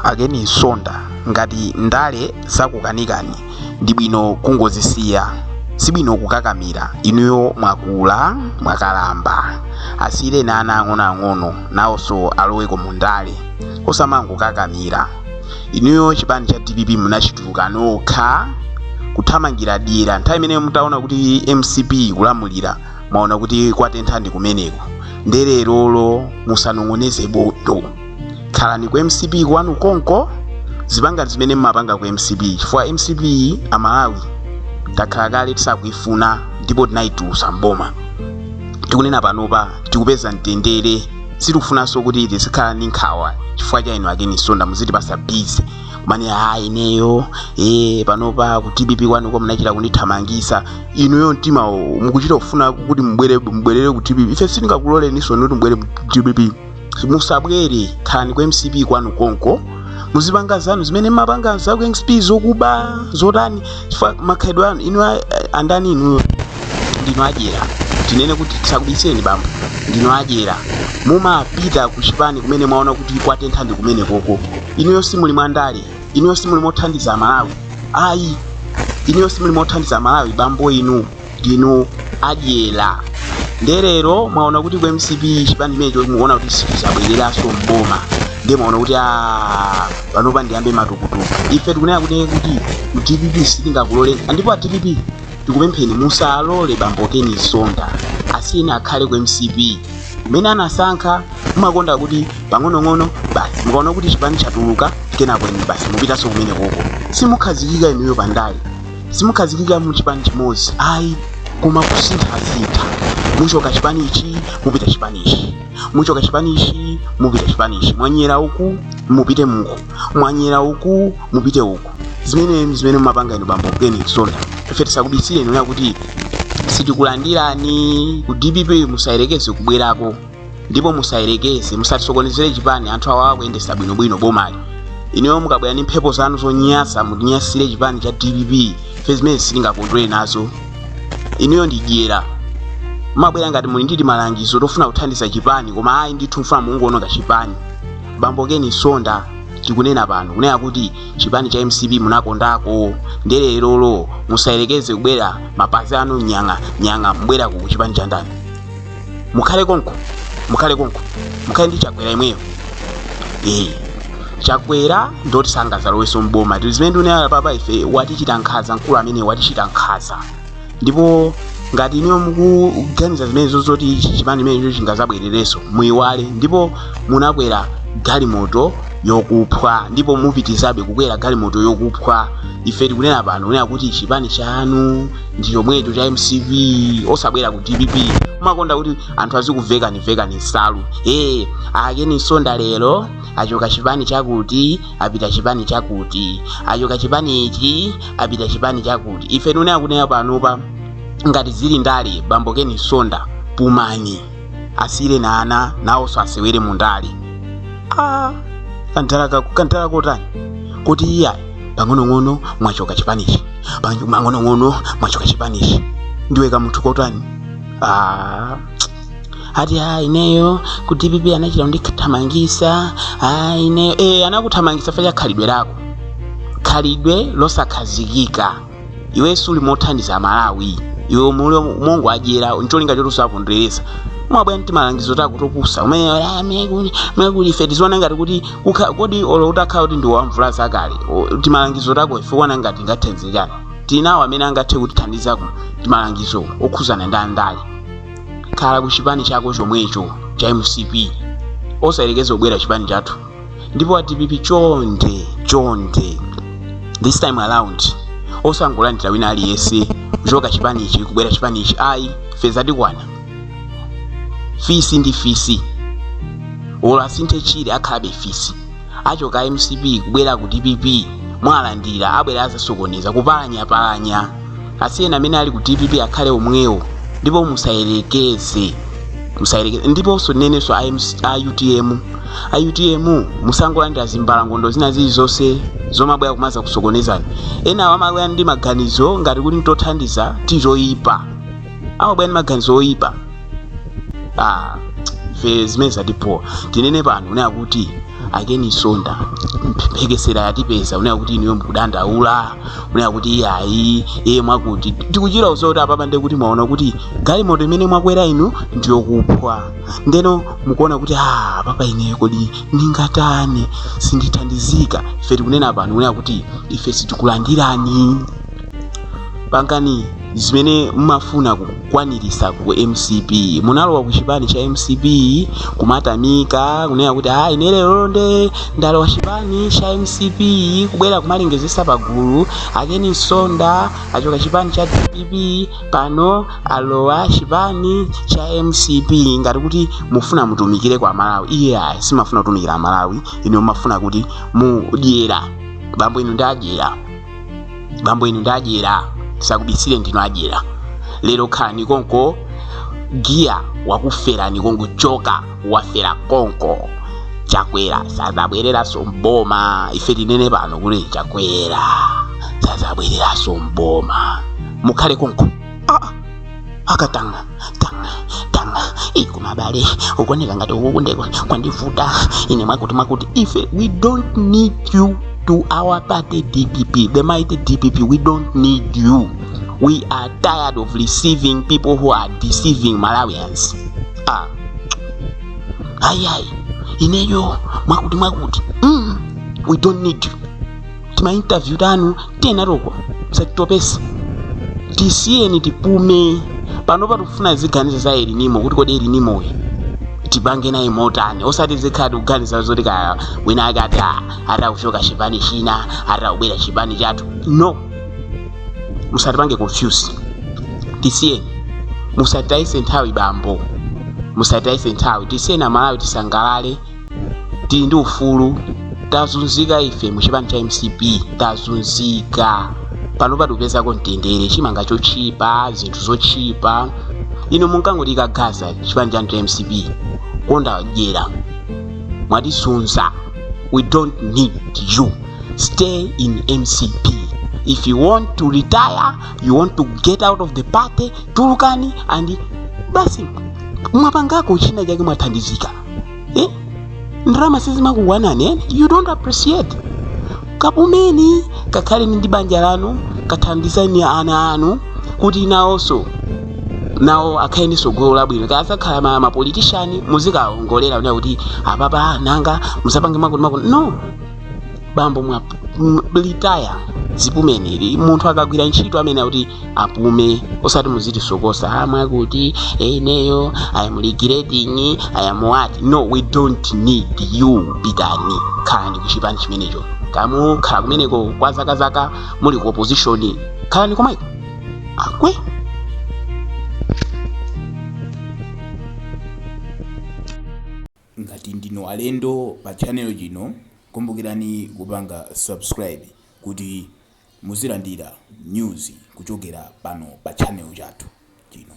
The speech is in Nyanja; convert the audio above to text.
a ken msonda ngati ndale zakukanikani ndi bwino kungozisiya sibwino kukakamira inuyo mwakula mwakalamba asiyireni ana ang'onoang'ono nawonso aloweko mu ndale osamangokakamira inuyo chipani cha dpp munachituluka nokha kuthamangira dyera nthawi imene mutaona kuti mcp ikulamulira mwaona kuti kwatentha ndi kumeneko nde lerolo musanong'oneze bondo khalani ku mcp kwanu konko zipangani zimene mmapanga ku mcp chifukwa mcp amalawi takhala kale tisakuifuna ndipo tinayitulusa mboma tikunena panopa tikupeza mtendere sitikufunanso kuti tizikhala ndi nkhawa chifukwa cha inu a ken msonda muzitipasa busy kumanena ineyo e panopa ku dpp kwanuko munachita kundithamangisa inuyo mtima mukuchita kufuna kuti mubwerere ku dpp ife sitingakuloleninso kuti mubwere ku dpp musabwere khalani ku mcp kwanu konko muzipanga zanu zimene mmapanga za ku mcp zokuba zotani chifukwa makhalidwe anu inu a- andani inuyo ndinu adyera tinene kuti tisakubiseni bambo ndinu adyera mumapita ku chipani kumene mwaona kuti kwatentha ndi kumene koko inuyo simuli mwandale inuyo simuli mothandiza malawi ayi inuyo simuli mothandiza malawi bambo inu ndinu adyera nde lero mwaona kuti ku mcp chipani chimenecho mukuona kuti sichizabwereranso mboma nde mwaona kuti ah panopa ndiyambe matukutuku ife tikunena kuti kuti ku dpp sitingakuloleni ndipo a dpp tikupempheni musalole bambo ken msonda asiyeni akhale ku mcp mmene anasankha mumakonda kuti pang'onong'ono basi mukaona kuti chipani chatuluka kenako inu basi mupitanso kumene koko simukhazikika inuyo pandale simukhazikika mu chipani chimodzi ayi koma kusinthasintha muchoka chipani ichi mupita chipani ichi muchoka chipani ichi mupita chipani ichi mwanyera uku mupite uku mwanyera uku mupite uku zimene zimene mumapanga inu bambo ken msonda ife tisakubisireni kuti sitikulandirani ku dpp musayerekeze kubwerako ndipo musayerekeze musatisokonezere chipani anthu awa akuyendesa bwinobwino bomali inuyo mukabwera ndi mphepo zanu zonyasa mutinyasire chipani cha dpp ife zimene sitingakondwere nazo inuyo ndi dyera mmabwera ngati muli ndi malangizo ofuna kuthandiza chipani koma ayi ndithu mfuna mungoononga chipani bambo ken msonda tikunena pano kunena kuti chipani cha mcp munakondako nde lerolo musayerekeze kubwera mapazi anu nyang'a nyang'a mubwera ku chipani cha ndani mukhale konko mukhale konko mukhale ndi chakwera imweyo ee chakwera ndoti sangazalowenso mboma tili zimene ndinena apapa ife watichita nkhaza mkulu amene watichita nkhaza ndipo ngati inuyo mukuganiza zimenezo zoti chipani imenecho chingazabwererenso muyiwale ndipo munakwera galimoto yokuphwa ndipo mupitizabe kukwera galimoto yokuphwa ife tikunena pano kunena kuti chipani chanu ndi chomwecho cha mcp osabwera ku dpp mumakonda kuti anthu azikuvekani vekani nsalu ee a ken msonda lero achoka chipani chakuti apita chipani chakuti achoka chipani ichi apita chipani chakuti ife tikunena panopa ngati zili ndale bambo ken msonda pumani asiyireni ana nawonso asewere mu ndale ah, kantala ka- kantala kotani kuti iyayi pang'onong'ono mwachoka chipanichi Pang- pang'onong'ono mwachoka chipanichi ndiwe kamunthu kotani ah. ati a ineyo ku dpp anachita kundithamangisa a ineyo e, anakuthamangisa ifa chakhalidwe lako khalidwe losakhazikika iwe siuli mothandiza malawi iwe muli mongowadyera ncholinga choti usakondweresa umabwera ndi timalangizo tako topusa umene "Ah, mene kuli- mene kuli ife tiziona ngati kuti kukha- kodi olo utakhala kuti ndi wamvula zakale o, timalangizo tako ife uona ngati ngothandiza tinawo amene angathe kutithandizako ndi malangizo okhuzana ndi ndale khala ku chipani chako chomwecho cha mcp osayerekeza ubwera chipani chathu ndipo a dpp chonde chonde this time around osangolandira wina aliyense kuchoka chipanichi kubwera chipanichi ayi ife zatikwana fisi ndi fisi olo asinthe tchire akhalabe fisi achoka mcp kubwera ku dpp mwalandira abwere azasokoneza kupalanyapalanya asiyeni amene ali ku dpp akhale omwewo ndipo musayerekeze musayerekeze ndiponso ndinenenso a MC a utm a utm musangolandira zimbalangondo zina zilizonse zomabwera kumazakusokonezani enawo amabwera ndi maganizo ngati kuti ntothandiza tili toyipa amabwera ndi maganizo oyipa ah, ife zimene zatipowa tinene pano unena kuti a ken msonda mphekesera yatipeza unena kuti inuyo mukudandaula unena kuti iyayi iye mwakuti tikuchira uso kuti apapa ndiye kuti mwaona kuti galimoto imene mwakwera inu ndiyokuphwa ndeno mukuona kuti ah, apapa ineyo kodi ndingatani sindithandizika ife tikunena pano unena kuti ife sitikulandirani pangani zimene mumafuna kukwaniritsa ku mcp munalowa ku chipani cha mcp kumatamika kunena kuti a ine lero nde ndalowa chipani cha mcp kubwera kumalengezesa pagulu a Ken Msonda achoka chipani cha dpp pano alowa chipani cha mcp ngati kuti mufuna mutumikire a malawi iyayi simumafuna kutumikira malawi inu mumafuna kuti mudyera bambo inu ndi adyera bambo inu ndi adyera tisakubisireni ndinu adyera lero khalani konko giya wakuferani konko choka wafera konko chakwera sazabwereranso m'boma ife tinene pano kuti chakwera sazabwereranso m'boma mukhale konko ah. akatanga tanga tanga ikumawawa kuoneka ngati ukukundeko kwandivuta ine mwakuti mwakuti ife we don't need you to our party dpp the mighty dpp we don't need you we are tired of receiving people who are deceiving malawians ah. ayi ayi ineyo mwakuti mwakuti mm, we don't need you tima interview tanu tiyenazoko musatitopetse tisiyeni tipume panopa tikufuna tiziganiza za el nino kuti kodi el nino uyu tipange naye motani osati tizikhala tikuganiza zoti kaya wina ake ati "Ah, akutuluka chipani china akubwera chipani chathu no musatipange confuse tisiyeni musatitayitse nthawi bambo musatitayitse nthawi tisiyeni amalawi tisangalale tili ndi ufulu tazunzika ife mu chipani cha mcp tazunzika pano tapezako mtendere chimanga chotchipa zinthu zotchipa inu munkangotikakaza chipani chanu cha mcp kukonda dyera mwatizunza we don't need you stay in mcp if you want to retire you want to get out of the party tulukani and basi mwapangako china chake mwathandizika eh? ndalama sizimakukwanani eh? you don't appreciate kapumeni kakhaleni ndi banja lanu kathandizeni ana anu kuti nawonso nawo akhale ndi tsogolo labwino akazakhala ma mapolitishani muzikaongolera kunena kuti apapa nanga musapange mwakuti mwakuti no bambo mwa retire zipumani munthu akagwira ntchito amayenera kuti apume osati muzitisokosa a mwakuti ineyo i am regretting i am what no we don't need you pitani khalani kuchipani chimenecho kaya mukhala kumeneko kwa zakazaka muli ku opposition khalani komweko a Ngati ndinu alendo pa channel chino, kumbukirani kupanga subscribe kuti muzilandira news kuchokera pano pa channel chathu chino.